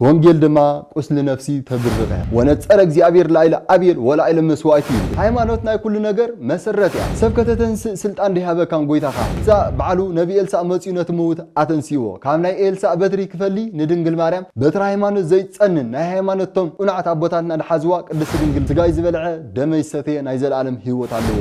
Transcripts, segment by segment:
ወንጌል ድማ ቁስሊ ነፍሲ ተብርቀ ወነጸረ እግዚኣብሔር ላይለ ኣቤል ወላይለ መስዋይቱ ይብል ሃይማኖት ናይ ኩሉ ነገር መሰረት እያ ሰብ ከተተንስእ ስልጣን ደይሃበካን ጎይታካ እዛ ባዕሉ ነቢ ኤልሳእ መጽዩ ነቲ ምውት ኣተንሲእዎ ካብ ናይ ኤልሳእ በትሪ ክፈሊ ንድንግል ማርያም በትሪ ሃይማኖት ዘይትጸንን ናይ ሃይማኖት እቶም ቁናዕት ኣቦታትና ድሓዝዋ ቅድስቲ ድንግል ስጋይ ዝበልዐ ደመይ ዝሰተየ ናይ ዘልኣለም ሂወት ኣለዎ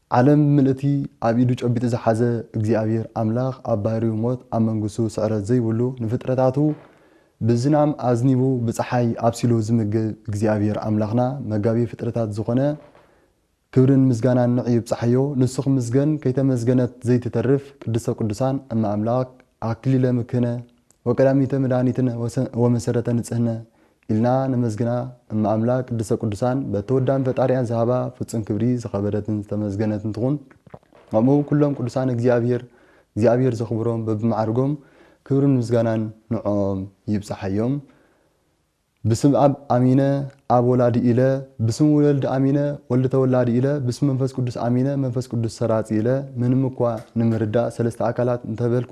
ዓለም ምልእቲ ኣብ ኢዱ ጨቢጡ ዝሓዘ እግዚኣብሔር ኣምላኽ ኣብ ባህሪኡ ሞት ኣብ መንግስቱ ስዕረት ዘይብሉ ንፍጥረታቱ ብዝናም ኣዝኒቡ ብፀሓይ ኣብሲሉ ዝምግብ እግዚኣብሔር ኣምላኽና መጋቢ ፍጥረታት ዝኾነ ክብርን ምስጋናን ንዕ ይብፃሓዮ ንሱ ክምስገን ከይተመስገነት ዘይትተርፍ ቅድስተ ቅዱሳን እመ ኣምላክ ኣክሊለ ምክህነ ወቀዳሚተ መድኃኒትነ ወመሰረተ ንፅህነ ኢልና ነመስግና እመ ኣምላክ ቅድስተ ቅዱሳን በቲ ወዳን ፈጣሪኣን ዝሃባ ፍጹም ክብሪ ዝከበረትን ዝተመስገነትን ትኩን ከምኡ ውን ኩሎም ቅዱሳን እግዚኣብሔር እግዚኣብሔር ዘክብሮም በብማዕርጎም ክብርን ምስጋናን ንዖኦም ይብጻሓዮም ብስም ኣብ ኣሚነ ኣብ ወላዲ ኢለ ብስም ውወልድ ኣሚነ ወልድ ተወላዲ ኢለ ብስም መንፈስ ቅዱስ ኣሚነ መንፈስ ቅዱስ ሰራጺ ኢለ ምንም እኳ ንምርዳእ ሰለስተ ኣካላት እንተበልኩ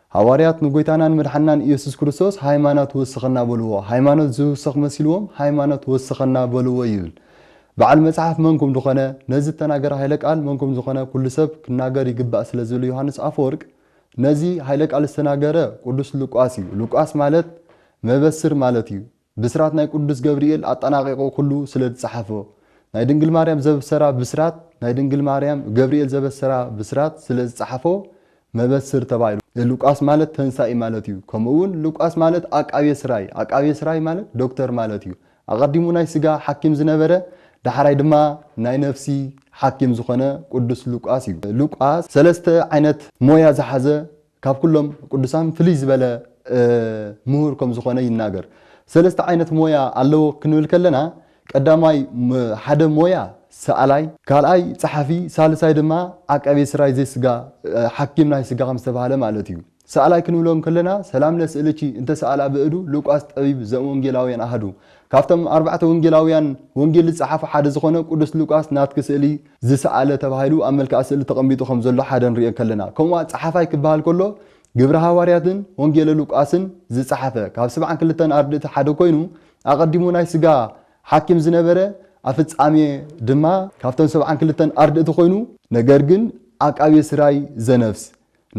ሃዋርያት ንጎይታናን መድሓንናን ኢየሱስ ክርስቶስ ሃይማኖት ወስኸና በልዎ ሃይማኖት ዝውስኽ መሲልዎም ሃይማኖት ወስኸና በልዎ ይብል በዓል መጽሓፍ መን ኩምድኾነ ነዚ እተናገረ ሃይለ ቃል መን ኩምዝኾነ ኩሉ ሰብ ክናገር ይግባእ ስለ ዝብል ዮሃንስ ኣፈወርቅ ነዚ ሃይለ ቃል ዝተናገረ ቁዱስ ሉቃስ እዩ ሉቃስ ማለት መበስር ማለት እዩ ብስራት ናይ ቅዱስ ገብርኤል ኣጠናቒቑ ኩሉ ስለ ዝጸሓፎ፣ ናይ ድንግል ማርያም ዘብሰራ ብስራት ናይ ድንግል ማርያም ገብርኤል ዘበሰራ ብስራት ስለ ዝጸሓፎ መበስር ተባሂሉ። ሉቃስ ማለት ተንሳኢ ማለት እዩ። ከምኡ'ውን ሉቃስ ማለት ኣቃቤ ሥራይ፣ ኣቃቤ ሥራይ ማለት ዶክተር ማለት እዩ። ኣቐዲሙ ናይ ሥጋ ሓኪም ዝነበረ ዳሕራይ ድማ ናይ ነፍሲ ሓኪም ዝኾነ ቅዱስ ሉቃስ እዩ። ሉቃስ ሰለስተ ዓይነት ሞያ ዝሓዘ ካብ ኩሎም ቅዱሳን ፍልይ ዝበለ ምሁር ከም ዝኾነ ይናገር። ሰለስተ ዓይነት ሞያ ኣለዎ ክንብል ከለና ቀዳማይ ሓደ ሞያ ሰኣላይ፣ ካልኣይ ጸሓፊ፣ ሳልሳይ ድማ ዓቃቤ ስራይ ዘይስጋ፣ ሓኪም ናይ ስጋ ከም ዝተባህለ ማለት እዩ። ሰኣላይ ክንብሎ እንከለና ሰላም ለስእልኪ እንተ ሰኣላ ብእዱ ሉቃስ ጠቢብ ዘእምወንጌላውያን ኣሃዱ ካብቶም ኣርባዕተ ወንጌላውያን ወንጌል ዝጸሓፉ ሓደ ዝኾነ ቅዱስ ሉቃስ ናትኪ ስእሊ ዝሰኣለ ተባሂሉ ኣብ መልክዓ ስእሊ ተቐሚጡ ከም ዘሎ ሓደ ንርእዮ እንከለና፣ ከምኡ'ዋን ጸሓፋይ ክበሃል ከሎ ግብሪ ሃዋርያትን ወንጌለ ሉቃስን ዝጸሓፈ ካብ ስብዓን ክልተን ኣርድእቲ ሓደ ኮይኑ ኣቐዲሙ ናይ ስጋ ሓኪም ዝነበረ ኣብ ፍጻሜ ድማ ካብተን ሰብዓን ክልተን ኣርድእቲ ኮይኑ ነገር ግን ዓቃቤ ስራይ ዘነፍስ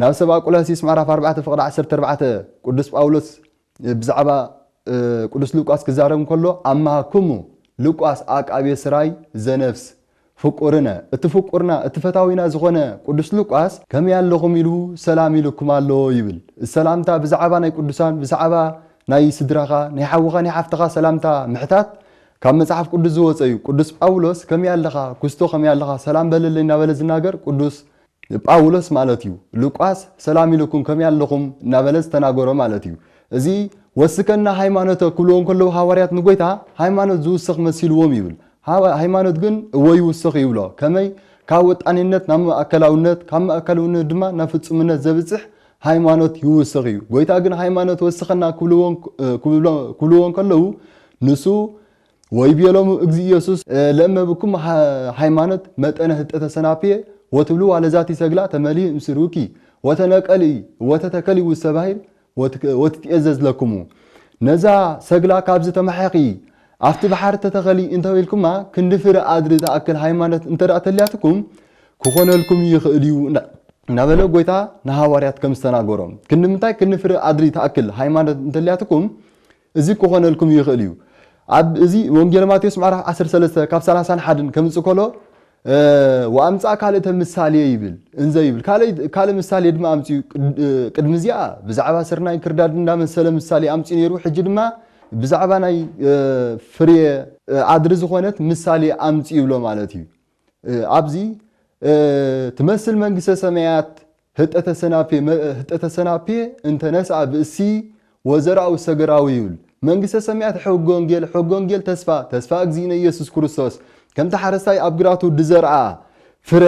ናብ ሰብኣ ቁላሲስ ምዕራፍ ኣርባዕተ ፍቕዲ ዓሰርተ ኣርባዕተ ቅዱስ ጳውሎስ ብዛዕባ ቅዱስ ሉቃስ ክዛረብ እንከሎ ኣማሃክሙ ሉቃስ ኣቃቤ ሥራይ ዘነፍስ ፍቁርነ፣ እቲ ፍቁርና እቲ ፈታዊና ዝኾነ ቅዱስ ሉቃስ ከመይ ኣለኹም ኢሉ ሰላም ኢሉኩም ኣሎ ይብል። እዚ ሰላምታ ብዛዕባ ናይ ቅዱሳን ብዛዕባ ናይ ስድራኻ ናይ ሓውኻ ናይ ሓፍትኻ ሰላምታ ምሕታት ካብ መጽሓፍ ቅዱስ ዝወጸ እዩ። ቅዱስ ጳውሎስ ከመይ ኣለኻ ኩስቶ ከመይ ኣለኻ ሰላም በለለይ እናበለ ዝናገር ቅዱስ ጳውሎስ ማለት እዩ። ሉቃስ ሰላም ኢሉኩም ከመይ ኣለኹም እናበለ ዝተናገሮ ማለት እዩ። እዚ ወስከና ሃይማኖተ ክብልዎ እንከለዉ ሃዋርያት ንጎይታ ሃይማኖት ዝውስኽ መሲልዎም ይብል። ሃይማኖት ግን እወ ይውስኽ ይብሎ። ከመይ? ካብ ወጣኒነት ናብ ማእከላውነት ካብ ማእከልውነት ድማ ናብ ፍጹምነት ዘብጽሕ ሃይማኖት ይውስኽ እዩ። ጎይታ ግን ሃይማኖት ወስኸና ክብልዎ ክብልዎ እንከለዉ ንሱ ወይቤሎሙ እግዚእ ኢየሱስ ለእመ ብኩም ሃይማኖት መጠነ ህጠተ ሰናፍየ ወትብሉ ዋለ ዛቲ ሰግላ ተመልኢ እምስርውኪ ወተነቀልኢ ወተተከሊ ውስተ ባሕር ወትትኤዘዝ ለክሙ ነዛ ሰግላ ካብዚ ተማሕኪ ኣብቲ ባሕሪ ተተኸሊ እንተበልኩማ ክንዲ ፍረ ኣድሪ ዝኣክል ሃይማኖት እንተ ተልያትኩም ክኾነልኩም ይኽእል እዩ እናበለ ጎይታ ንሃዋርያት ከም ዝተናገሮም ክንዲ ምንታይ ክንዲ ፍረ ኣድሪ ትኣክል ሃይማኖት እንተልያትኩም እዚ ክኾነልኩም ይኽእል እዩ። ኣብ እዚ ወንጌል ማቴዎስ ምዕራፍ ዓሰርተ ሰለስተ ካብ ሰላሳን ሓድን ከምጽእ ከሎ ወኣምጽኣ ካልእተ ምሳሌ ይብል እንዘ ይብል ካልእ ምሳሌ ድማ ኣምጽኡ ቅድሚ እዚኣ ብዛዕባ ስርናይ ክርዳድ እንዳመሰለ ምሳሌ ኣምጽኡ ነይሩ ሕጂ ድማ ብዛዕባ ናይ ፍሬ ኣድሪ ዝኾነት ምሳሌ ኣምጽኡ ይብሎ ማለት እዩ። ኣብዚ ትመስል መንግስተ ሰማያት ህጠተ ሰናፔ መእ ህጠተ ሰናፔ እንተ ነስኣ ብእሲ ወዘራኡ ሰገራዊ ይብል መንግስተ ሰማያት ሕገ ወንጌል ሕገ ወንጌል ተስፋ ተስፋ እግዚእነ ኢየሱስ ክርስቶስ ከምቲ ሓረስታይ ኣብ ግራቱ ድዘርኣ ፍረ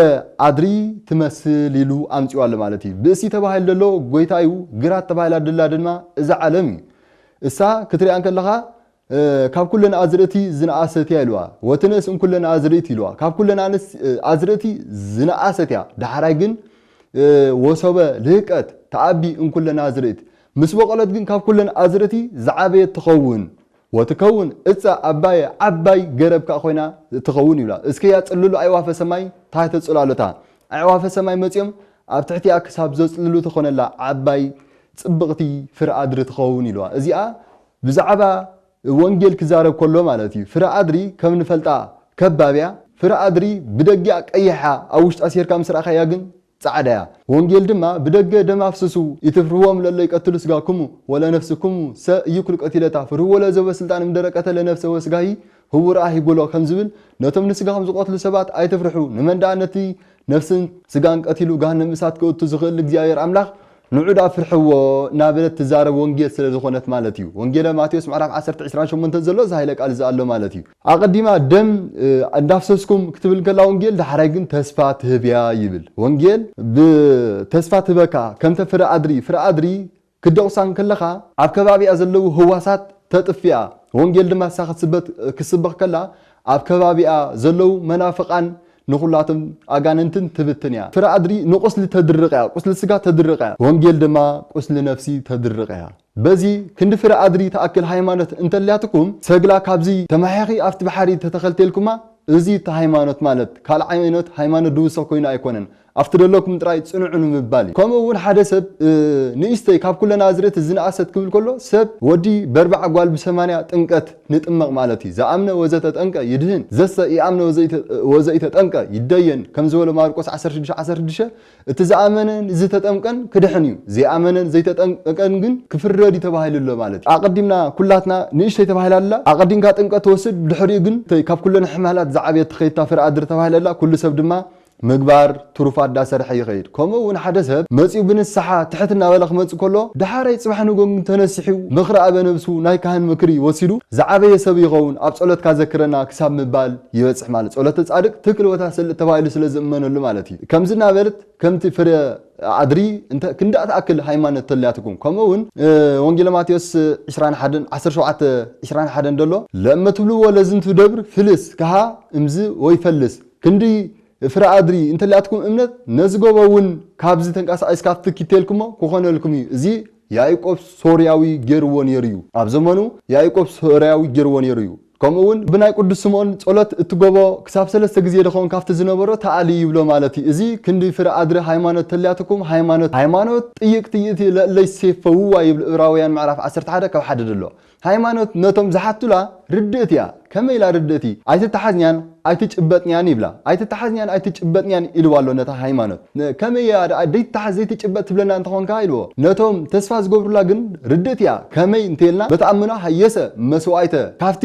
ኣድሪ ትመስል ኢሉ ኣምጺኡ ኣሎ ማለት እዩ። ብእሲ ተባሂሉ ደሎ ጎይታ እዩ፣ ግራት ተባሂላ ደላ ድማ እዛ ዓለም እዩ። እሳ ክትሪኣ እንከለኻ ካብ ኵለን ኣዝርእቲ ዝነኣሰት እያ ኢልዋ። ወትንእስ እምኵለን ኣዝርእት ኢልዋ። ካብ ኵለን ኣንስት ኣዝርእቲ ዝነኣሰት እያ። ዳሕራይ ግን ወሶበ ልህቀት ተኣቢ እምኵለን ኣዝርእት። ምስ በቖለት ግን ካብ ኵለን ኣዝርእቲ ዝዓበየት ትኸውን። ወትከውን እፀ ኣባየ ዓባይ ገረብ ከኣ ኮይና ትኸውን ይብላ። እስከ ያጽልሉ ኣዕዋፈ ሰማይ ታሕተ ጽላሎታ። ኣዕዋፈ ሰማይ መጺኦም ኣብ ትሕቲኣ ክሳብ ዘጽልሉ ትኾነላ ዓባይ ጽብቕቲ ፍረ ኣድሪ ትኸውን ኢልዋ። እዚኣ ብዛዕባ ወንጌል ክዛረብ ከሎ ማለት እዩ። ፍረ ኣድሪ ከም ንፈልጣ ከባብ እያ። ፍረ ኣድሪ ብደጊኣ ቀይሕ እያ ኣብ ውሽጣ ሴርካ ምስ ረኣኻያ ግን ጻዕዳ እያ። ወንጌል ድማ ብደገ ደም ኣፍስሱ ኢትፍርህዎም ለለ ይቀትሉ ስጋክሙ ወለነፍስክሙ ሰ ኢይኩሉ ቀቲለታ ፍርህዎ ለዘቦ ስልጣን እምደረ ቀተለ ነፍሰ ወስጋሂ ህውር ኣሂ ብሎ ከም ዝብል፣ ነቶም ንስጋኹም ዝቐትሉ ሰባት ኣይትፍርሑ፣ ንመን ደኣ ነቲ ነፍስን ስጋን ቀቲሉ ገሃነም እሳት ከእቱ ዝኽእል ንእግዚኣብሄር ኣምላኽ ንዑ ደኣ ፍርሕዎ እናበለት ትዛረብ ወንጌል ስለ ዝኾነት ማለት እዩ። ወንጌለ ማቴዎስ ምዕራፍ ዓሰርተ ዕስራን ሸሞንተን ዘሎ እዚ ሃይለ ቃል እዚ ኣሎ ማለት እዩ። ኣቐዲማ ደም እንዳፍሰስኩም ክትብል ከላ ወንጌል ዳሕራይ ግን ተስፋ ትህብ እያ ይብል። ወንጌል ብተስፋ ትህበካ ከምተ ፍረ ኣድሪ፣ ፍረ ኣድሪ ክትደቑሳ እንክለኻ ኣብ ከባቢኣ ዘለዉ ህዋሳት ተጥፊኣ ወንጌል ድማ ንሳ ክትስበት ክትስበኽ ከላ ኣብ ከባቢኣ ዘለዉ መናፍቓን ንኹላቶም ኣጋንንትን ትብትን እያ። ፍረ ኣድሪ ንቑስሊ ተድርቕ እያ ቁስሊ ስጋ ተድርቕ እያ ወንጌል ድማ ቁስሊ ነፍሲ ተድርቕ እያ። በዚ ክንዲ ፍረ ኣድሪ ትኣክል ሃይማኖት እንተልያትኩም ሰግላ ካብዚ ተማሒኺ ኣብቲ ባሕሪ ተተኸልቴልኩማ እዚ እቲ ሃይማኖት ማለት ካልእ ዓይነት ሃይማኖት ድውሰኽ ኮይኑ ኣይኮነን ኣብቲ ደለኩም ጥራይ ጽንዑ ንምባል እዩ ከምኡ ውን ሓደ ሰብ ንእሽተይ ካብ ኩለን ኣዝርእቲ ዝነኣሰት ክብል ከሎ ሰብ ወዲ በርባዓ ጓል ብሰማንያ ጥምቀት ንጥመቅ ማለት እዩ ዘኣምነ ወዘተጠምቀ ይድህን ዘሰ ኢኣምነ ወዘኢተጠምቀ ይደየን ከም ዝበሎ ማርቆስ ዓሰርተ ሽዱሽተ ዓሰርተ ሽዱሽተ እቲ ዘኣመነን ዝተጠምቀን ክድሕን እዩ ዘይኣመነን ዘይተጠምቀን ግን ክፍረድ እዩ ተባሂሉ ኣሎ ማለት እዩ ኣቀዲምና ኩላትና ንእሽተይ ተባሂላ ኣላ ኣቀዲምካ ጥምቀት ትወስድ ብድሕሪኡ ግን እተይ ካብ ኩለን ሕማላት ዝዓበየት ትከይድታ ፍረ ኣድሪ ተባሂላ ኣላ ኩሉ ሰብ ድማ ምግባር ትሩፋት ዳሰርሐ ይኸይድ ከምኡ እውን ሓደ ሰብ መጺኡ ብንስሓ ትሕት እናበለ ክመጽእ ከሎ ዳሓራይ ጽባሕ ንጎንግ እንተነሲሒኡ ምኽሪ ኣበ ነብሱ ናይ ካህን ምክሪ ወሲዱ ዝዓበየ ሰብ ይኸውን ኣብ ጸሎትካ ዘክረና ክሳብ ምባል ይበጽሕ ማለት ጸሎተ ጻድቅ ትክል ወታሰልጥ ተባሂሉ ስለ ዝእመነሉ ማለት እዩ ከምዚ እናበልት ከምቲ ፍረ ኣድሪ እንተ ክንዳእ ትኣክል ሃይማነት ተልያትኩም ከምኡ እውን ወንጌለ ማቴዎስ ዕስራን ሓደን ዓሰርተ ሸውዓተ ዕስራን ሓደን ደሎ ለእመ ትብልዎ ለዝንቱ ደብር ፍልስ ከሃ እምዝ ወይፈልስ ክንዲ ፍረ ኣድሪ እንተሊኣትኩም እምነት ነዚ ጎቦ እውን ካብዚ ተንቃሳቂስ ካብቲ ኪቴልኩሞ ክኾነልኩም እዩ እዚ ያኢቆብ ሶርያዊ ጌርዎ ኔሩ እዩ ኣብ ዘመኑ ያኢቆብ ሶርያዊ ጌርዎ ኔሩ እዩ ከምኡ እውን ብናይ ቁዱስ ስምኦን ጸሎት እቲ ጎቦ ክሳብ ሰለስተ ግዜ ድኸውን ካብቲ ዝነበሮ ተኣሊ ይብሎ ማለት እዩ እዚ ክንዲ ፍረ ኣድሪ ሃይማኖት ተሊኣትኩም ሃይማኖት ሃይማኖት ጥይቅ ትይእቲ ለእለይ ሴፈውዋ ይብል እብራውያን ምዕራፍ ዓሰርተ ሓደ ካብ ሓደ ድሎ ሃይማኖት ነቶም ዝሓቱላ ርድእት እያ። ከመይ ኢላ ርድእት እይ? ኣይትተሓዝንያን ኣይትጭበጥንያን ይብላ። ኣይትተሓዝንያን ኣይትጭበጥንያን ኢልዋ ኣሎ ነታ ሃይማኖት። ን ከመይ እያ ደኣ ዘይትተሓዝ ዘይትጭበጥ ትብለና እንተ ኾንካ ኢልዎ። ነቶም ተስፋ ዝገብሩላ ግን ርድእት እያ። ከመይ እንተ ኢልና በቲ ኣምኖ ሃየሰ መስዋእይተ ካብቲ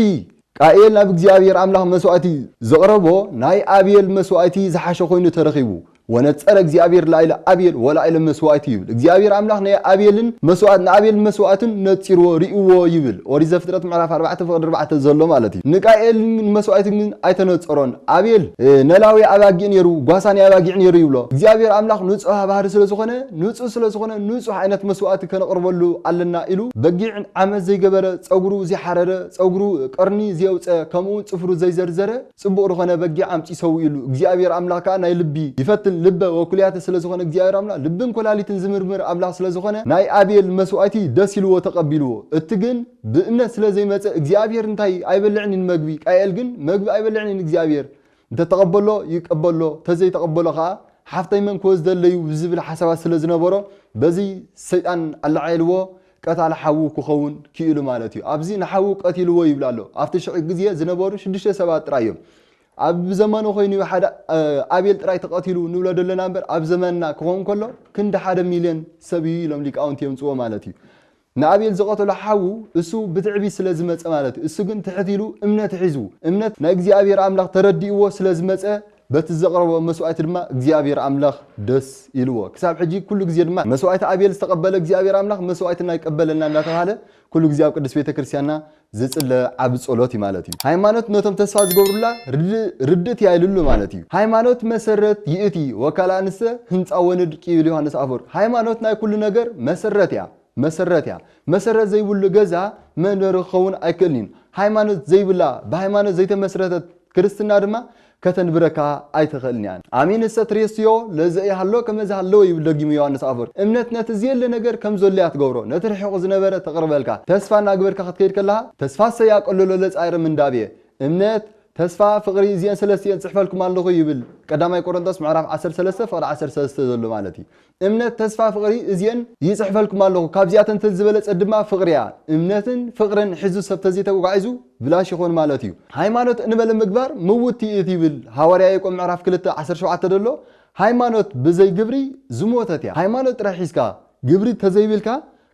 ቃኤል ናብ እግዚኣብሄር ኣምላኽ መስዋእቲ ዘቕረቦ ናይ ኣቤል መስዋእቲ ዝሓሸ ኮይኑ ተረኺቡ፣ ወነጸረ እግዚኣብሄር ላዕለ ኣቤል ወላዕለ መስዋእቱ ይብል። እግዚኣብሄር ኣምላኽ ናይ ኣቤልን መስዋእት ንኣቤል መስዋእቱን ነጺርዎ ርእዩዎ ይብል፣ ኦሪት ዘፍጥረት ምዕራፍ ኣርባዕተ ፍቕዲ ኣርባዕተ ዘሎ ማለት እዩ። ንቃኤል ንመስዋእቲ ግን ኣይተነጸሮን፣ ኣቤል ነላዊ ኣባጊዕ ነይሩ፣ ጓሳ ናይ ኣባጊዕ ነይሩ ይብሎ። እግዚኣብሄር ኣምላኽ ንጹሃ ባህሪ ስለ ዝኾነ ንጹህ ስለ ዝኾነ ንጹህ ዓይነት መስዋእቲ ከነቕርበሉ ኣለና ኢሉ በጊዕ ዓመት ዘይገበረ ጸጉሩ ዘይሓረረ፣ ጸጉሩ ቀርኒ ዜውጸ ከምኡውን ጽፍሩ ዘይዘርዘረ ጽቡቕ ርኾነ በጊዕ ኣምጺኡ ሰዊኡሉ እግዚኣብሄር ኣምላኽ ከኣ ናይ ልቢ ይፈትን ልበ ወኩልያተ ስለ ዝኾነ እግዚኣብሄር ኣምላኽ ልብን ኮላሊትን ዝምርምር ኣምላኽ ስለ ዝኾነ ናይ ኣቤል መስዋእቲ ደስ ኢልዎ ተቀቢልዎ እቲ ግን ብእምነት ስለ ዘይመጸ እግዚኣብሄር እንታይ ኣይበልዕን ኢን መግቢ ቃኤል ግን መግቢ ኣይበልዕን ኢን እግዚኣብሄር እንተ ተቀበሎ ይቀበሎ ተዘይ ተቀበሎ ከኣ ሓፍተይ መን ክወስደለይ እዩ ዝብል ሓሳባት ስለ ዝነበሮ በዚ ሰይጣን ኣለዓዒልዎ ቀታሊ ሓዉ ክኸውን ክኢሉ ማለት እዩ። ኣብዚ ንሓዉ ቀቲልዎ ይብል ኣሎ። ኣብቲ ሽዑ ግዜ ዝነበሩ ሽዱሽተ ሰባት ጥራይ እዮም። ኣብ ብዘመኑ ኮይኑ እዩ ሓደ ኣቤል ጥራይ ተቐቲሉ ንብሎ ደለና እምበር ኣብ ዘመንና ክኸውን ከሎ ክንዲ ሓደ ሚልዮን ሰብ እዩ ኢሎም ሊቃውንቲ የምጽዎ ማለት እዩ። ንኣቤል ዝቐተሎ ሓዉ እሱ ብትዕቢት ስለ ዝመጸ ማለት እዩ። እሱ ግን ትሕት ኢሉ እምነት ሒዙ እምነት ናይ እግዚኣብሔር ኣምላኽ ተረዲእዎ ስለ ዝመጸ በቲ ዘቕረቦ መስዋእቲ ድማ እግዚኣብሄር ኣምላኽ ደስ ኢልዎ። ክሳብ ሕጂ ኩሉ ግዜ ድማ መስዋእቲ ኣቤል ዝተቐበለ እግዚኣብሄር ኣምላኽ መስዋእትና ይቀበለልና እንዳተባህለ ኩሉ ግዜ ኣብ ቅድስት ቤተ ክርስቲያንና ዝጽለ ዓቢ ጸሎት እዩ ማለት እዩ። ሃይማኖት ነቶም ተስፋ ዝገብሩላ ርድእት እያ ኢልሉ ማለት እዩ። ሃይማኖት መሰረት ይእቲ ወካልኣንሰ ህንጻ ወንድቅ ይብል ዮሃንስ ኣፈወርቅ። ሃይማኖት ናይ ኩሉ ነገር መሰረት እያ። መሰረት እያ። መሰረት ዘይብሉ ገዛ መንበሪ ክኸውን ኣይክእልን እዩ። ሃይማኖት ዘይብላ ብሃይማኖት ዘይተመስረተት ክርስትና ድማ ከተንብረካ ኣይትኽእልን እያ። ኣሚን እሰ ትሬስዮ ለዘኢሃሎ ከመ ዝሃለወ ይብል ደጊሙ ዮሃንስ ኣፈወርቅ። እምነት ነቲ ዝየለ ነገር ከም ዘሎ እያ ትገብሮ፣ ነቲ ርሒቑ ዝነበረ ተቕርበልካ። ተስፋ እናግበርካ ክትከይድ ከለኻ ተስፋ እሰይ ኣቀልሎ ለጻይረ ምንዳቤ። እምነት፣ ተስፋ፣ ፍቕሪ እዚኤን ሰለስቲኤን እጽሕፈልኩም ኣለኹ ይብል ቀዳማይ ቆረንቶስ ምዕራፍ ዓሰርተ ሰለስተ ፍቕዲ ዓሰርተ ሰለስተ ዘሎ ማለት እዩ። እምነት ተስፋ ፍቅሪ እዚኤን ይጽሕፈልኩም ኣለኩ ካብዚኣተን ተን ዝበለጸት ድማ ፍቅሪ እያ እምነትን ፍቅርን ሒዙ ሰብ ተዘይተጓዒዙ ብላሽ ይኮን ማለት እዩ ሃይማኖት እንበለ ምግባር ምውቲ እት ይብል ሃዋርያ ያቆብ ምዕራፍ ክልተ ዓሰርተ ሸውዓተ ደሎ ሃይማኖት ብዘይ ግብሪ ዝሞተት እያ ሃይማኖት ጥራይ ሒዝካ ግብሪ ተዘይብልካ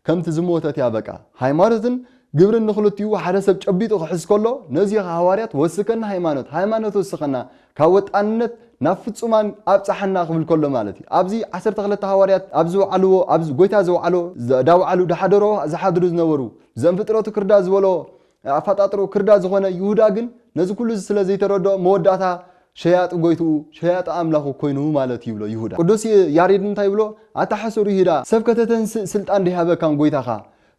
ከምቲ ዝሞተት እያ በቃ። ሃይማኖትን ግብርን ንኽልቲኡ ሓደ ሰብ ጨቢጡ ክሕዝ ከሎ ነዚ ኢኻ ሃዋርያት ወስከና ሃይማኖት ሃይማኖት ወስኸና ካብ ወጣንነት ናብ ፍጹማን ኣብጽሓና ክብል ከሎ ማለት እዩ። ኣብዚ ዓሰርተ ክልተ ሃዋርያት ኣብ ዝወዓልዎ ኣብ ጎይታ ዘውዓሎ ዘዳውዓሉ ድሓደሮ ዝሓድሩ ዝነበሩ ዘእምፍጥረቱ ክርዳድ ዝበሎ ኣፋጣጥርኡ ክርዳድ ዝኾነ ይሁዳ ግን ነዚ ኩሉ እዚ ስለ ዘይተረድኦ መወዳእታ ሸያጢ ጎይትኡ ሸያጢ ኣምላኹ ኮይኑ ማለት ይብሎ ይሁዳ። ቅዱስ ያሬድ እንታይ ይብሎ ኣታ ሕሱር ይሁዳ ሰብ ከተተንስእ ስልጣን ደይሃበካን ጎይታኻ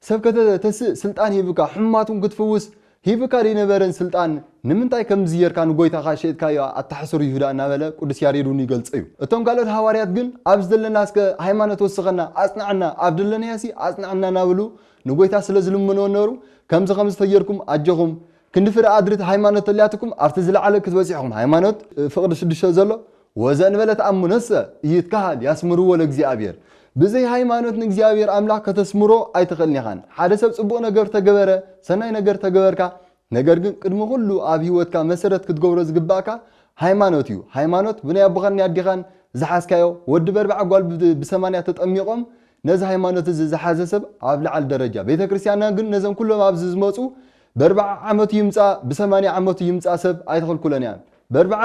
ሰብ ከተ ተስእ ስልጣን ሂብካ ሕሙማቱን ክትፍውስ ሂብካ ደይነበረን ስልጣን ንምንታይ ከምዚ ጌርካ ንጎይታኻ ሸይጥካዮ ኣታ ሕሱር ይሁዳ እናበለ ቅዱስ ያሬድ ውን ይገልጾ እዩ። እቶም ካልኦት ሃዋርያት ግን ኣብዚ ዘለናስከ ሃይማኖት ወስኸና ኣጽንዓና ኣብ ደለናዮሲ ኣጽንዓና እናበሉ ንጎይታ ስለ ዝልምንዎ ነበሩ ከምዚ ከምዚ ተጌርኩም ኣጆኹም ክንዲ ፍረ ኣድሪ እቲ ሃይማኖት ተሊያትኩም ኣብቲ ዝለዓለ ክትበጽሑ ኢኹም ሃይማኖት ፍቅሪ ሽዱሽተ ዘሎ ወዘእንበለ ተኣምኖሰ ኢይትከሃል ያስምርዎ ለእግዚኣብሔር ብዘይ ሃይማኖት ንእግዚኣብሔር ኣምላኽ ከተስምሮ ኣይትኽእልን ኢኻን ሓደ ሰብ ጽቡቅ ነገር ተገበረ ሰናይ ነገር ተገበርካ ነገር ግን ቅድሚ ኩሉ ኣብ ሂወትካ መሰረት ክትገብሮ ዝግባእካ ሃይማኖት እዩ ሃይማኖት ብናይ ኣቦኻን ናይ ኣዴኻን ዝሓዝካዮ ወዲ በርብዓ ጓል ብሰማንያ ተጠሚቆም ነዚ ሃይማኖት እዚ ዝሓዘ ሰብ ኣብ ልዓል ደረጃ ቤተክርስትያንና ግን ነዘም ኩሎም ኣብዚ ዝመጹ በርብዓ ዓመቱ ይምጻ ብሰማንያ ዓመቱ ይምጻ ሰብ ኣይተኽልኩለን እያን በርብዓ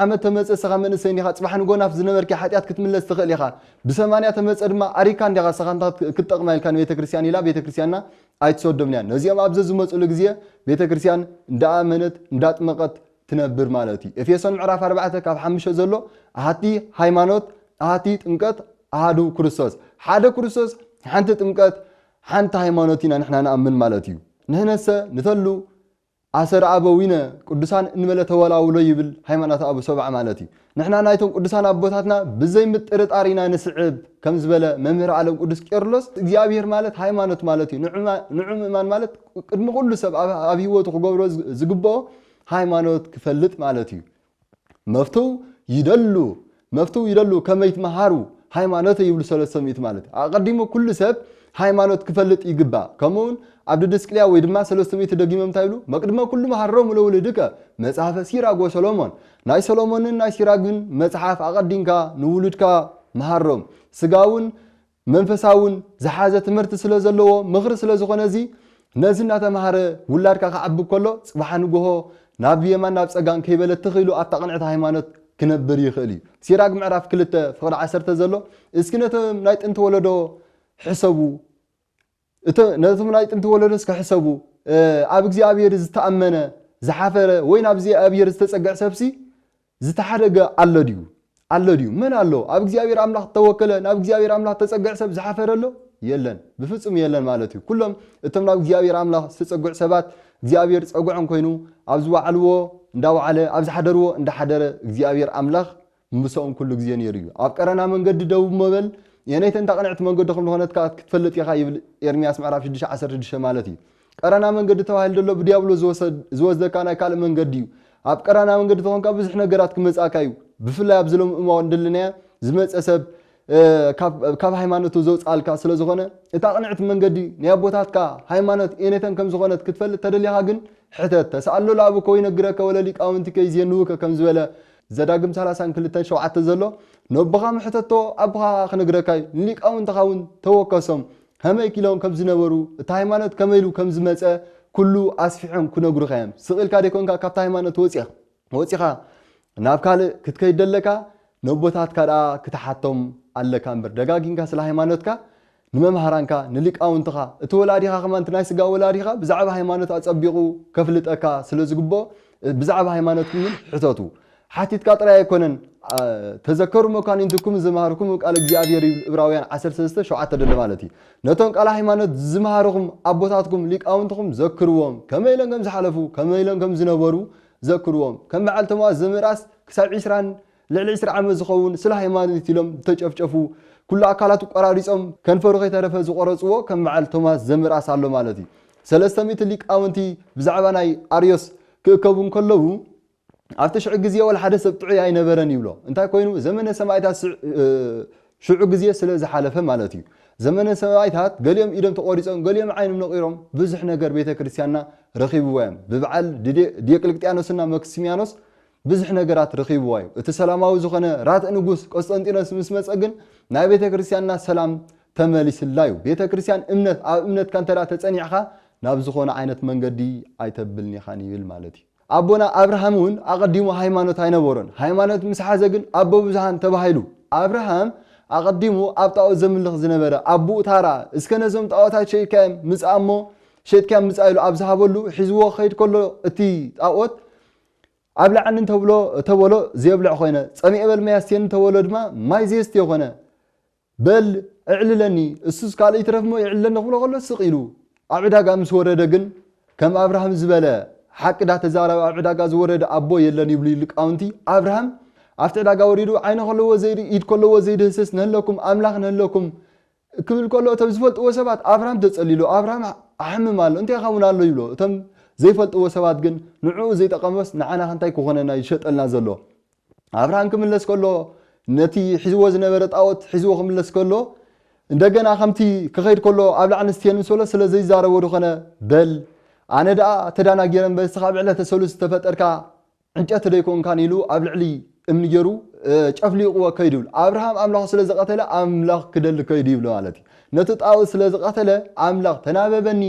ዓመት ተመጸ ሰኻ መንእሰይ እንዲኻ ጽባሕ ንጎናፍ ዝነበርኪ ሓጢኣት ክትምለስ ትኽእል ኢኻ ብሰማንያ ተመጸ ድማ ኣሪካ እንዲኻ ሰኻ እንታ ክትጠቅማ ኢልካ ንቤተክርስትያን ኢላ ቤተክርስትያንና ኣይትሰዶምን እያ ነዚኦም ኣብ ዘዝመጹሉ ግዜ ቤተ ክርስትያን እንዳኣመነት እንዳጥመቀት ትነብር ማለት እዩ ኤፌሶን ምዕራፍ ኣርባዕተ ካብ ሓሙሽተ ዘሎ ኣሃቲ ሃይማኖት ኣሃቲ ጥምቀት ኣሃዱ ክርስቶስ ሓደ ክርስቶስ ሓንቲ ጥምቀት ሓንቲ ሃይማኖት ኢና ንሕና ንኣምን ማለት እዩ ንሕነሰ ንተሉ ኣሰረ ኣበዊነ ቅዱሳን እንበለ ተወላውሎ ይብል ሃይማኖተ ኣበው ሰብዓ ማለት እዩ። ንሕና ናይቶም ቅዱሳን ኣቦታትና ብዘይ ምጥርጣር ኢና ንስዕብ ከም ዝበለ መምህር ኣለም ቅዱስ ቄርሎስ እግዚኣብሔር ማለት ሃይማኖት ማለት እዩ ንዑ ምእማን ማለት ቅድሚ ኩሉ ሰብ ኣብ ህይወቱ ክገብሮ ዝግበኦ ሃይማኖት ክፈልጥ ማለት እዩ። መፍትው ይደሉ መፍትው ይደሉ ከመይትመሃሩ ሃይማኖተ ይብሉ ሰለስተ ሚእቲ ማለት ኣቐዲሙ ኩሉ ሰብ ሃይማኖት ክፈልጥ ይግባእ ከምኡውን ኣብ ድድስቅልያ ወይ ድማ ሰለስተ ሚእቲ ደጊሞም እንታይ ይብሉ መቅድመ ኩሉ መሃሮም ለውልድከ መጽሐፈ ሲራግ ወሰሎሞን ናይ ሰሎሞንን ናይ ሲራግን መጽሓፍ ኣቐዲምካ ንውሉድካ መሃሮም ስጋውን መንፈሳውን ዝሓዘ ትምህርቲ ስለ ዘለዎ ምኽሪ ስለ ዝኾነ እዚ ነዚ እናተምሃረ ውላድካ ክዓቢ ከሎ ፅባሓ ንጎሆ ናብ የማን ናብ ፀጋም ከይበለ ትኽ ኢሉ ኣብታ ቅንዕቲ ሃይማኖት ክነብር ይኽእል እዩ ሲራግ ምዕራፍ ክልተ ፍቅዲ ዓሰርተ ዘሎ እስኪ ነቶም ናይ ጥንቲ ወለዶ ሕሰቡ ነቶም ናይ ጥንቲ ወለዶስ ክሕሰቡ፣ ኣብ እግዚኣብሔር ዝተኣመነ፣ ዝሓፈረ፣ ወይ ናብ እግዚኣብሔር ዝተጸግዕ ሰብሲ ዝተሓደገ ኣሎ ድዩ? ኣሎ ድዩ? መን ኣሎ? ኣብ እግዚኣብሔር ኣምላኽ እተወከለ፣ ናብ እግዚኣብሔር ኣምላኽ እተጸግዕ ሰብ ዝሓፈረ ኣሎ? የለን። ብፍጹም የለን ማለት እዩ። ኩሎም እቶም ናብ እግዚኣብሔር ኣምላኽ ዝተጸግዑ ሰባት እግዚኣብሔር ጸግዖም ኮይኑ፣ ኣብ ዝወዓልዎ እንዳወዓለ፣ ኣብ ዝሓደርዎ እንዳሓደረ እግዚኣብሔር ኣምላኽ ምሰኦም ኩሉ ግዜ ነይሩ እዩ። ኣብ ቀረና መንገዲ ደቡብ ሞበል የነይተን ታቅንዕቲ መንገዲ ከም ልኾነት ከኣ ክትፈልጥ ኢኻ ይብል ኤርምያስ ምዕራፍ ሽዱሽተ ዓሰርተ ሽዱሽተ ማለት እዩ። ቀረና መንገዲ ተባሂሉ ዘሎ ብድያብሎስ ዝወሰድ ዝወስደካ ናይ ካልእ መንገዲ እዩ። ኣብ ቀረና መንገዲ ተኾንካ ብዙሕ ነገራት ክመጽኣካ እዩ። ብፍላይ ኣብዚ ሎሚ እማወት ደለናያ ዝመጸ ሰብ ካብ ሃይማኖቱ ዘውጽኣልካ ስለ ዝኾነ እታ ቅንዕቲ መንገዲ ናይ ኣቦታትካ ሃይማኖት ኤኔተን ከም ዝኾነት ክትፈልጥ ተደሊኻ ግን ሕተት ተስኣሎ ለኣብከ ወይነግረከ ወለሊቃውንቲከ ይዜንዉከ ከም ዝበለ ዘዳግም ሰላሳን ክልተን ሸውዓተ ዘሎ ነቦኻ ምሕተቶ ኣቦኻ ከኣ ክነግረካዩ ንሊቃውንትኻ እውን ተወከሶም ሀመይ ኪሎም ከም ዝነበሩ እቲ ሃይማኖት ከመይ ኢሉ ከም ዝመጸ ኩሉ ኣስፊሖም ክነግሩኻ እዮም ስቅ ኢልካ ደይኮንካ ካብቲ ሃይማኖት ወጺእኻ ወጺኻ ናብ ካልእ ክትከይድ ዶ ኣለካ ነቦታትካ ደኣ ክትሓቶም ኣለካ እምበር ደጋጊምካ ስለ ሃይማኖትካ ንመምሃራንካ ንሊቃውንትኻ እቲ ወላዲኻ ከማን እቲ ናይ ስጋ ወላዲኻ ብዛዕባ ሃይማኖት ኣጸቢቑ ከፍልጠካ ስለ ዝግብኦ ብዛዕባ ሃይማኖትኩም ውን ሕተቱ ሓቲትካ ጥራይ ኣይኮነን ተዘከሩ መኳንንትኩም ዝመሃርኩም ቃል እግዚኣብሔር ይብል እብራውያን 13 ሸውዓተ ደሎ ማለት እዩ ነቶም ቃል ሃይማኖት ዝመሃርኹም ኣቦታትኩም ሊቃውንትኹም ዘክርዎም ከመይ ኢሎም ከም ዝሓለፉ ከመይ ኢሎም ከም ዝነበሩ ዘክርዎም ከም በዓል ቶማስ ዘምእራስ ክሳብ ዒስራን ልዕሊ ዒስራ ዓመት ዝኸውን ስለ ሃይማኖት ኢሎም ዝተጨፍጨፉ ኩሉ ኣካላቱ ቆራሪጾም ከንፈሩ ከይተረፈ ዝቆረጽዎ ከም በዓል ቶማስ ዘምእራስ ኣሎ ማለት እዩ ሰለስተ ሚእቲ ሊቃውንቲ ብዛዕባ ናይ ኣርዮስ ክእከቡ እንከለዉ ኣብቲ ሽዑ ግዜ ወላ ሓደ ሰብ ጥዑይ ኣይነበረን ይብሎ እንታይ ኮይኑ ዘመነ ሰማእታት ሽዑ ግዜ ስለ ዝሓለፈ ማለት እዩ። ዘመነ ሰባኣይታት ገሊኦም ኢዶም ተቆሪጾም ገሊኦም ዓይኖም ነቂሮም ብዙሕ ነገር ቤተ ክርስትያንና ረኪብዋ እዮም ብብዓል ድየቅልቅጥያኖስና መክስሚያኖስ ብዙሕ ነገራት ረኪብዋ እዩ እቲ ሰላማዊ ዝኮነ ራትእ ንጉስ ቆስጠንጢኖስ ምስ መጸ ግን ናይ ቤተ ክርስትያንና ሰላም ተመሊስላ እዩ ቤተ ክርስትያን እምነት ኣብ እምነትካ እንተ ተጸኒዕካ ናብ ዝኮነ ዓይነት መንገዲ ኣይተብልኒካን ይብል ማለት እዩ። ኣቦና ኣብርሃም እውን ኣቐዲሙ ሃይማኖት ኣይነበሮን። ሃይማኖት ምስ ሓዘ ግን ኣቦ ብዙኃን ተባሂሉ። ኣብርሃም ኣቐዲሙ ኣብ ጣኦት ዘምልኽ ዝነበረ ኣቡኡ ታራ እስከ ነዞም ጣኦታት ሸይጥካዮም ምጽኣ እሞ ሸጥካዮም ምጻእ ኢሉ ኣብ ዝሃበሉ ሒዝዎ ክኸይድ ከሎ እቲ ጣኦት ኣብልዓኒ እንተብሎ ተበሎ ዘየብልዕ ኮይነ፣ ጸሚኤ በል ማይ ኣስትየኒ እንተበሎ ድማ ማይ ዘየስትዮ ኮነ። በል ኣዕልለኒ፣ እሱስ ካልእ ይትረፍ'ሞ የዕልለኒ ክብሎ ከሎ ስቕ ኢሉ። ኣብ ዕዳጋ ምስ ወረደ ግን ከም ኣብርሃም ዝበለ ሓቂ ዳተዛረበ ኣብ ዕዳጋ ዝወረደ ኣቦ የለን ይብሉ ሊቃውንቲ፣ ኣብርሃም ኣብቲ ዕዳጋ ወሪዱ ዓይኒ ከለዎ ዘይርኢ ኢድ ከለዎ ዘይድህስስ ንሀለኩም ኣምላኽ ንሀለኩም ክብል ከሎ እቶም ዝፈልጥዎ ሰባት ኣብርሃም ተጸሊሉ ኣብርሃም ኣሕምም ኣሎ እንታይ ይኸውን ኣሎ ይብሎ እቶም ዘይፈልጥዎ ሰባት ግን ንዕኡ ዘይጠቐመስ ንዓና ከንታይ ክኾነና ይሸጠልና ዘሎ ኣብርሃም ክምለስ ከሎ ነቲ ሒዝዎ ዝነበረ ጣዖት ሒዝዎ ክምለስ ከሎ እንደገና ከምቲ ክኸይድ ከሎ ኣብ ላዕሊ ንስቴን ምስ በሎ ስለ ዘይዛረቦ ድኾነ በል ኣነ ደኣ ተዳናጊረ እምበር እስኻ ኣብ ዕለተ ሰሉስ ዝተፈጠርካ ዕንጨቲ ደይኮንካን ኢሉ ኣብ ልዕሊ እምኒ ገይሩ ጨፍሊቕዎ ከይዱ ይብል ኣብርሃም ኣምላኹ ስለ ዝቐተለ ኣምላኽ ክደሊ ከይዱ ይብሎ ማለት እዩ ነቲ ጣዖት ስለ ዝቐተለ ኣምላኽ ተናበበኒ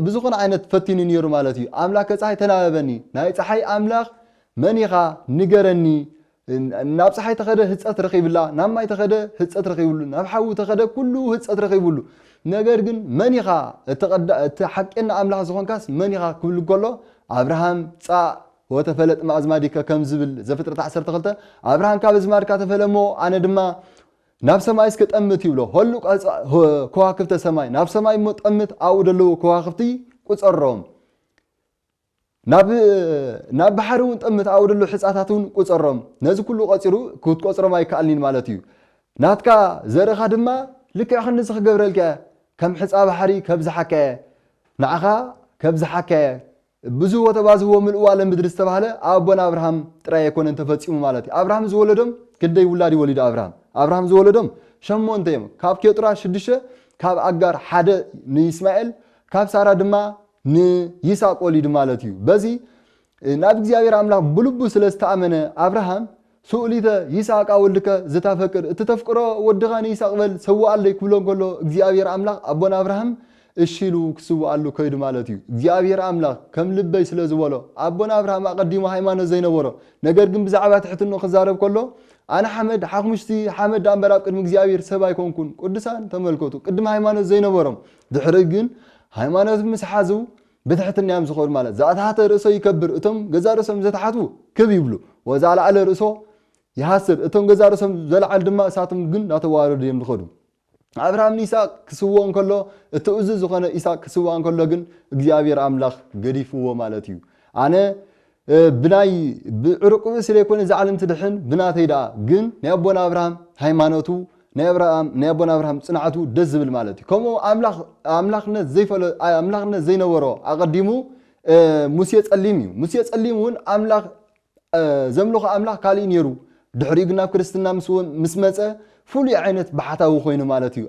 ብዝኾነ ዓይነት ፈቲኑ ነይሩ ማለት እዩ ኣምላክ ከፀሓይ ተናበበኒ ናይ ፀሓይ ኣምላኽ መን ኢኻ ንገረኒ ናብ ፀሓይ ተኸደ ህፀት ረኺብላ ናብ ማይ ተኸደ ህፀት ረኺብሉ ናብ ሓዊ ተኸደ ኩሉ ህፀት ረኺብሉ ነገር ግን መን ኢኻ እቲ ቀዳ እቲ ሓቄና ኣምላኽ ዝኾንካስ መን ኢኻ ክብል እንከሎ ኣብርሃም ጻእ ወተፈለጥ ማኣዝማዲከ ከም ዝብል ዘፍጥረት ዓሰርተ ክልተ ኣብርሃም ካብ ኣዝማድካ ተፈለ እሞ ኣነ ድማ ናብ ሰማይ እስከ ጠምት ይብሎ ሆሉ ከዋክብተ ሰማይ ናብ ሰማይ እሞ ጠምት ኣብኡ ደለዉ ከዋክብቲ ቁፀሮም ናብ ናብ ባሕሪ እውን ጠምት ኣውርደሉ ሕጻታት እውን ቁጸሮም ነዚ ኩሉ ቆጺሩ ክትቆጽሮም ኣይከኣልኒን ማለት እዩ ናትካ ዘርእኻ ድማ ልክዕ ክንድዚ ክገብረልካ እየ ከም ሕጻ ባሕሪ ከብዝሓካ እየ ንዓኻ ከብዝሓካ እየ ብዙህ ወተባዝህዎ ምልእዋ ለምድሪ ዝተባህለ ኣቦና ኣብርሃም ጥራይ ኣይኮነን ተፈጺሙ ማለት እዩ ኣብርሃም ዝወለዶም ክንደይ ውላድ እዩ ወሊዱ ኣብርሃም ኣብርሃም ዝወለዶም ሸሞንተ እዮም ካብ ኬጡራ ሽዱሽተ ካብ ኣጋር ሓደ ንይስማኤል ካብ ሳራ ድማ ንይስሃቅ ወሊዱ ማለት እዩ። በዚ ናብ እግዚኣብሔር ኣምላኽ ብልቡ ስለ ዝተኣመነ ኣብርሃም ሱእሊተ ይስሃቃ ወልድከ ዘታፈቅድ እቲ ተፍቅሮ ወድኻ ንይስሃቅ በል ሰውኣለይ ክብሎ እንከሎ እግዚኣብሔር ኣምላኽ ኣቦና ኣብርሃም እሺ ኢሉ ክስውኣሉ ከይዱ ማለት እዩ። እግዚኣብሔር ኣምላኽ ከም ልበይ ስለ ዝበሎ ኣቦና ኣብርሃም ኣቐዲሙ ሃይማኖት ዘይነበሮ ነገር ግን ብዛዕባ ትሕትንኡ ክዛረብ ከሎ ኣነ ሓመድ ሓክሙሽቲ ሓመድ ድኣ እምበር ኣብ ቅድሚ እግዚኣብሔር ሰብ ኣይኮንኩን ቅዱሳን ተመልከቱ ቅድም ሃይማኖት ዘይነበሮም ድሕሪ ግን ሃይማኖት ምስ ሓዙ ብትሕትና እዮም ዝኸዱ ማለት ዘኣተሓተ ርእሶ ይከብር እቶም ገዛ ርእሶም ዘተሓቱ ክብ ይብሉ ወዘኣልዓለ ርእሶ ይሃስር እቶም ገዛ ርእሶም ዘለዓል ድማ እሳቶም ግን ናተዋረዱ እዮም ዝኸዱ ኣብርሃም ንይስቅ ክስውኦ እንከሎ እቲ እዙ ዝኾነ ኢስቅ ክስውኣ እንከሎ ግን እግዚኣብሔር ኣምላኽ ገዲፍዎ ማለት እዩ ኣነ ብናይ ብዕሩቅብን ስለ ዘይኮነ እዛ ዓለም ትድሕን ብናተይ ደኣ ግን ናይ ኣቦና ኣብርሃም ሃይማኖቱ ናይ ኣብርሃም ናይ ኣቦና ኣብርሃም ጽንዓቱ ደስ ዝብል ማለት እዩ ከምኡ ኣምላኽ ኣምላኽነት ዘይፈለ ኣምላኽነት ዘይነበሮ ኣቐዲሙ ሙሴ ጸሊም እዩ ሙሴ ጸሊም እውን ኣምላኽ ዘምልኾ ኣምላኽ ካልእ ነይሩ ድሕሪኡ ግን ናብ ክርስትና ምስ መጸ ፍሉይ ዓይነት ባሕታዊ ኮይኑ ማለት እዩ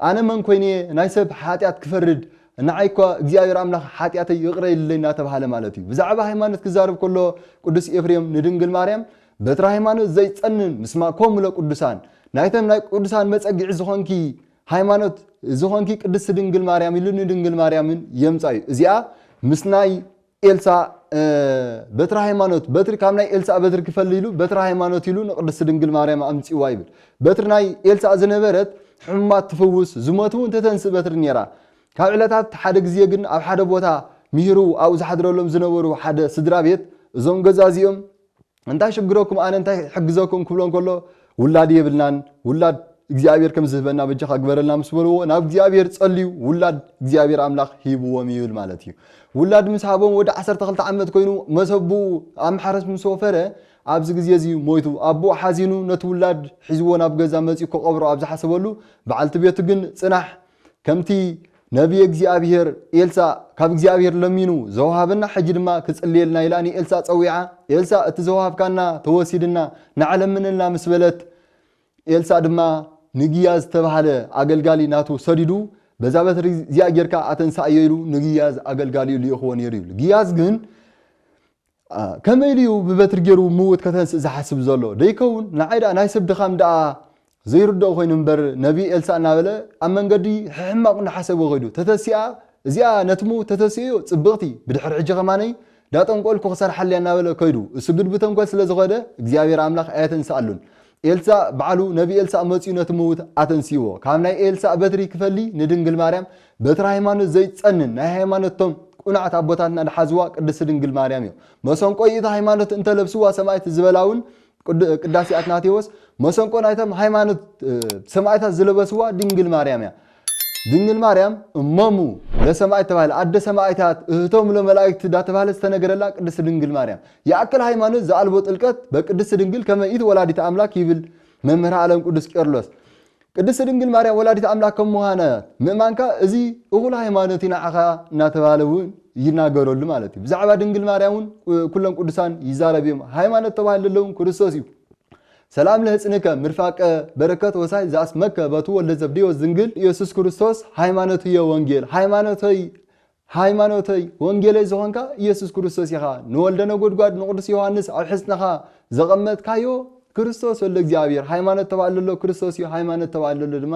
ኣነ መን ኰይነ እየ ናይ ሰብ ሓጢኣት ክፈርድ፣ ንዓይ እኳ እግዚኣብሄር ኣምላኽ ሓጢኣተይ ይቕረ ኢሉለይ እናተባህለ ማለት እዩ። ብዛዕባ ሃይማኖት ክዛረብ ከሎ ቅዱስ ኤፍሬም ንድንግል ማርያም በትረ ሃይማኖት ዘይጸንን ምስማ ኮሙ ለቅዱሳን ናይቶም ናይ ቅዱሳን መጸግዒ ዝኾንኪ ሃይማኖት ዝኾንኪ ቅድስቲ ድንግል ማርያም ኢሉ ንድንግል ማርያምን የምጻዩ እዚኣ ምስ ናይ ኤልሳ በትረ ሃይማኖት በትሪ ካብ ናይ ኤልሳእ በትሪ ክፈሊ ኢሉ በትረ ሃይማኖት ኢሉ ንቅድስቲ ድንግል ማርያም ኣምጺዋ ይብል በትሪ ናይ ኤልሳእ ዝነበረት ሕሙማት ትፍውስ ዝሞት እውን ተተንስእ በትሪ ነይራ ካብ ዕለታት ሓደ ግዜ ግን ኣብ ሓደ ቦታ ምሂሩ ኣብኡ ዝሓድረሎም ዝነበሩ ሓደ ስድራ ቤት እዞም ገዛ እዚኦም እንታይ ሽግረኩም ኣነ እንታይ ክሕግዘኩም ክብሎ እንከሎ ውላድ የብልናን ውላድ እግዚኣብሔር ከም ዝህበና በጃኻ ግበረልና ምስ በልዎ ናብ እግዚኣብሔር ጸልዩ ውላድ እግዚኣብሔር ኣምላኽ ሂብዎም ይብል ማለት እዩ ውላድ ምስ ሃቦም ወዲ 12 ዓመት ኮይኑ መሰብኡ ኣብ ማሕረስ ምስ ወፈረ ኣብዚ ግዜ እዚ ሞይቱ ኣቦኡ ሓዚኑ ነቲ ውላድ ሒዝዎ ናብ ገዛ መፂኡ ክቐብሮ ኣብ ዝሓሰበሉ በዓልቲ ቤቱ ግን ፅናሕ ከምቲ ነብዪ እግዚኣብሄር ኤልሳእ ካብ እግዚኣብሄር ለሚኑ ዘውሃበና ሕጂ ድማ ክጽልየልና ኢላ ንኤልሳእ ጸዊዓ ኤልሳእ እቲ ዘውሃብካና ተወሲድና ንዓ ለምነልና ምስ በለት ኤልሳእ ድማ ንግያዝ ዝተባህለ ኣገልጋሊ ናቱ ሰዲዱ በዛ በትሪ እዚኣ ጌርካ ኣተንሳእዮ ኢሉ ንግያዝ ኣገልጋሊኡ ልኢኽዎ ነይሩ ይብሉ ግያዝ ግን ከመይ ኢሉ እዩ ብበትሪ ጌሩ ምዉት ከተንስእ ዝሓስብ ዘሎ ደይከዉን ንዓይ ድኣ ናይ ሰብ ድኻም ድኣ ዘይርድኦ ኮይኑ እምበር ነቢ ኤልሳእ እናበለ ኣብ መንገዲ ሕሕማቅ እናሓሰበ ከይዱ ተተሲኣ እዚኣ ነቲ ምዉት ተተሲእዮ ጽብቅቲ ብድሕሪ ሕጂ ከማነይ ዳጠንቆልኩ ክሰርሓለያ እናበለ ከይዱ እሱ ግድ ብተንኮል ስለ ዝኸደ እግዚኣብሔር ኣምላኽ ኣየተንስኣሉን ኤልሳእ ባዕሉ ነቢ ኤልሳእ መጺኡ ነቲ ምዉት ኣተንሲዎ ካብ ናይ ኤልሳእ በትሪ ክፈሊ ንድንግል ማርያም በትሪ ሃይማኖት ዘይትጸንን ናይ ሃይማኖት ቶም ቁናዕት ኣቦታትና ድሓዝዋ ቅድስቲ ድንግል ማርያም እዮ መሰንቆ ይእቲ ሃይማኖት እንተ ለብስዋ ሰማይት ዝበላ ውን ቅዳሴ ኣትናቴዎስ መሰንቆ ናይቶም ሃይማኖት ሰማይታት ዝለበስዋ ድንግል ማርያም እያ ድንግል ማርያም እሞሙ ለሰማእት ተባህለ ኣደ ሰማእታት እህቶሙ ለመላእክት ዳተባህለት ዝተነገረላ ቅድስት ድንግል ማርያም ይኣክል ሃይማኖት ዘኣልቦ ጥልቀት በቅድስት ድንግል ከመ ኢት ወላዲተ ኣምላክ ይብል መምህር ዓለም ቅዱስ ቄርሎስ ቅድስት ድንግል ማርያም ወላዲት ኣምላክ ከም ምዃና ምእማንካ እዚ እኹል ሃይማኖት እዩ ንዓኻ እናተባህለ እውን ይናገረሉ ማለት እዩ ብዛዕባ ድንግል ማርያም እውን ኩሎም ቅዱሳን ይዛረብ እዮም ሃይማኖት ተባሂሉ ዘለውን ክርስቶስ እዩ ሰላም ለሕጽንከ ምርፋቀ በረከት ወሳይ ዘኣስመከ በቱ ወልደ ዘብዴዎስ ዝንግል ኢየሱስ ክርስቶስ ሃይማኖትየ ወንጌል ሃይማኖተይ ሃይማኖተይ ወንጌለይ ዝኾንካ ኢየሱስ ክርስቶስ ኢኻ ንወልደ ነጎድጓድ ንቅዱስ ዮሐንስ ኣብ ሕጽንኻ ዘቐመጥካዮ ክርስቶስ ወልደ እግዚኣብሔር ሃይማኖት ተባዕለሎ ክርስቶስ እዩ ሃይማኖት ተባዕለሎ ድማ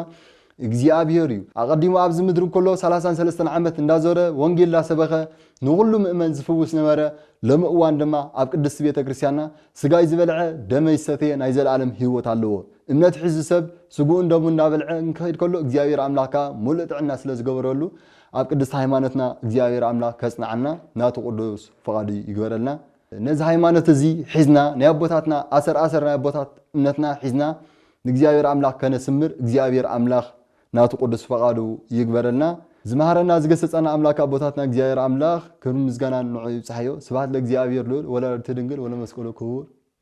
እግዚኣብሔር እዩ። ኣቐዲሙ ኣብዚ ምድሪ እንከሎ ሰላሳን ሰለስተን ዓመት እንዳዞረ ወንጌል እንዳሰበኸ ንኹሉ ምእመን ዝፍውስ ነበረ፣ ሎሚ እዋን ድማ ኣብ ቅድስቲ ቤተ ክርስቲያንና ስጋይ ዝበልዐ ደመይ ዝሰተየ ናይ ዘለኣለም ሕይወት ኣለዎ እምነት ሒዙ ሰብ ስግኡን ደሙን እንዳበልዐ እንክኸይድ ከሎ እግዚኣብሔር ኣምላኽ ከኣ ምሉእ ጥዕና ስለ ዝገበረሉ ኣብ ቅድስቲ ሃይማኖትና እግዚኣብሔር ኣምላኽ ከጽንዓና ናቱ ቅዱስ ፍቓዱ ይግበረልና። ነዚ ሃይማኖት እዚ ሒዝና ናይ ኣቦታትና ኣሰር ኣሰር ናይ ኣቦታት እምነትና ሒዝና ንእግዚኣብሔር ኣምላኽ ከነስምር እግዚኣብሔር ኣምላኽ ናቱ ቅዱስ ፈቃዱ ይግበረልና። ዝመሃረና ዝገሰጸና ኣምላክ ኣቦታትና እግዚኣብሔር ኣምላክ ክብርን ምስጋናን ንዑ ይብጻሕዮ ስብሃት ለእግዚኣብሔር ልኡል ወለወላዲቱ ድንግል ወለመስቀሉ ክቡር።